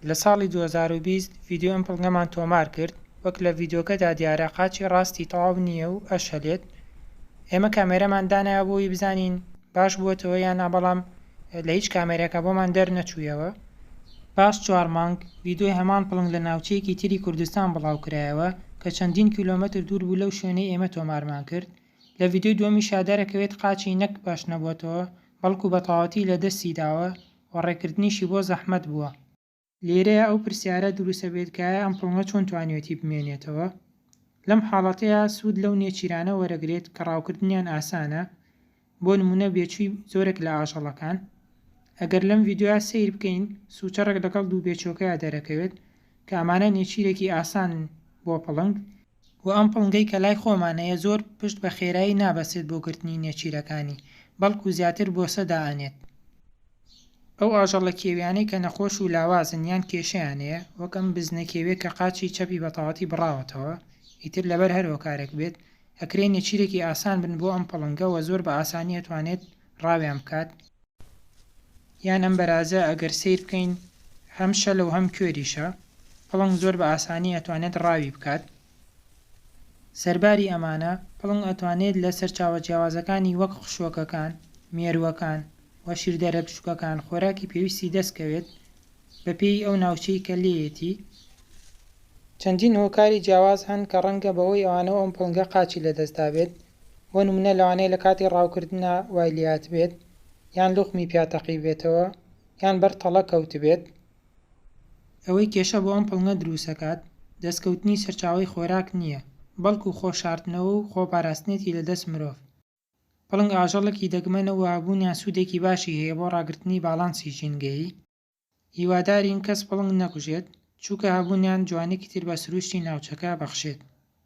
لە ساڵی دوو هەزار و بیست ڤیدیۆ ئەمپڵگەمان تۆمار کرد، وەک لە ڤیدیۆکەدا دیارە قاچی ڕاستی تەواو نییە و ئەشەلێت، ئێمە کامێرەمان دانایە بۆ وی بزانین باش بووەتەوە یان نا بەڵام لە هیچ کامێرەکە بۆمان دەرنەچوویەوە. پاش چوار مانگ ڤیدیۆی هەمان پڵنگ لە ناوچەیەکی تری کوردستان بڵاوکرایەوە کە چەندین کیلۆمەتر دوور بوو لەو شوێنەی ئێمە تۆمارمان کرد، لە ڤیدیۆی دووەمیشا دەرەکەوێت قاچی نەک بەش نەبووەتەوە بەڵکو بەتەواوەتی لەدەستی داوە و ڕێکردنیشی بۆ زەحمەت بووە. لێرەیا ئەو پرسیارە دروستە بێت کە ئایا ئەم پڵۆنە چۆن توانیوێتی بمێنێتەوە؟ لەم حاڵەتەیا سوود لەو نێچیرانە وەرەگرێت کە ڕاوکردنیان ئاسانە، بۆ نموونە بێچووی زۆرێک لە ئاژەڵەکان. ئەگەر لەم ڤیدیۆیا سەیر بکەین، سووچەڕێک لەگەڵ دوو بێچووەکەیا دەرەکەوێت، کە ئەمانە نێچیرێکی ئاسانن بۆ پڵنگ، وە ئەم پڵنگەی کە لای خۆمان هەیە زۆر پشت بە خێرایی نابەستێت بۆ گرتنی نێچیرەکانی بەڵکو زیاتر بۆسە دائەنێت. ئەو ئاژەڵە کێویانەی کە نەخۆش و لاوازن یان کێشەیان هەیە وەک ئەم بزنە کێویە کە قاچی چەپی بەتەواتی بڕاوەتەوە ئیتر لەبەر هەر هۆکارێک بێت ئەکرێ نێچیرێکی ئاسان بن بۆ ئەم پڵنگە وە زۆر بە ئاسانی ئەتوانێت ڕاویان بکات یان ئەم بەرازە ئەگەر سەیر بکەین هەم شەلە و هەم کوێریشە، پڵنگ زۆر بە ئاسانی ئەتوانێت ڕاوی بکات. سەرباری ئەمانە، پڵنگ ئەتوانێت لە سەرچاوە جیاوازەکانی وەک خشۆکەکان، مێرووەکان و شیردەرە بچووکەکان خۆراکی پێویستی دەست کەوێت بە پێی ئەو ناوچەی کە لێیەتی. چەندین هۆکاری جیاواز هەن کە ڕەنگە بەهۆی ئەوانەوە ئەم پڵنگە قاچی لە دەست دابێت. بۆ نمونە لەوانەیە لە کاتی ڕاوکردنا وای لێهاتبێت یان لوقمی پیا تەقیبێتەوە یان بەر تەڵە کەوتبێت، ئەوەی کێشە بۆ ئەم پڵنگە دروستەکات دەستکەوتنی سەرچاوەی خۆراک نییە بەڵکو خۆ شاردنەوە و خۆ پاراستنێتی لە دەست مرۆڤ، پڵنگ ئاژەڵێکی دەگمەنە و هەبوونیان سوودێکی باشی هەیە بۆ ڕاگرتنی باڵانسی ژینگەیی، هیوادارین کەس پڵنگ نەکوژێت چوکە هەبوونیان جوانیکی تر بە سروشتی ناوچەکە بەخشێت.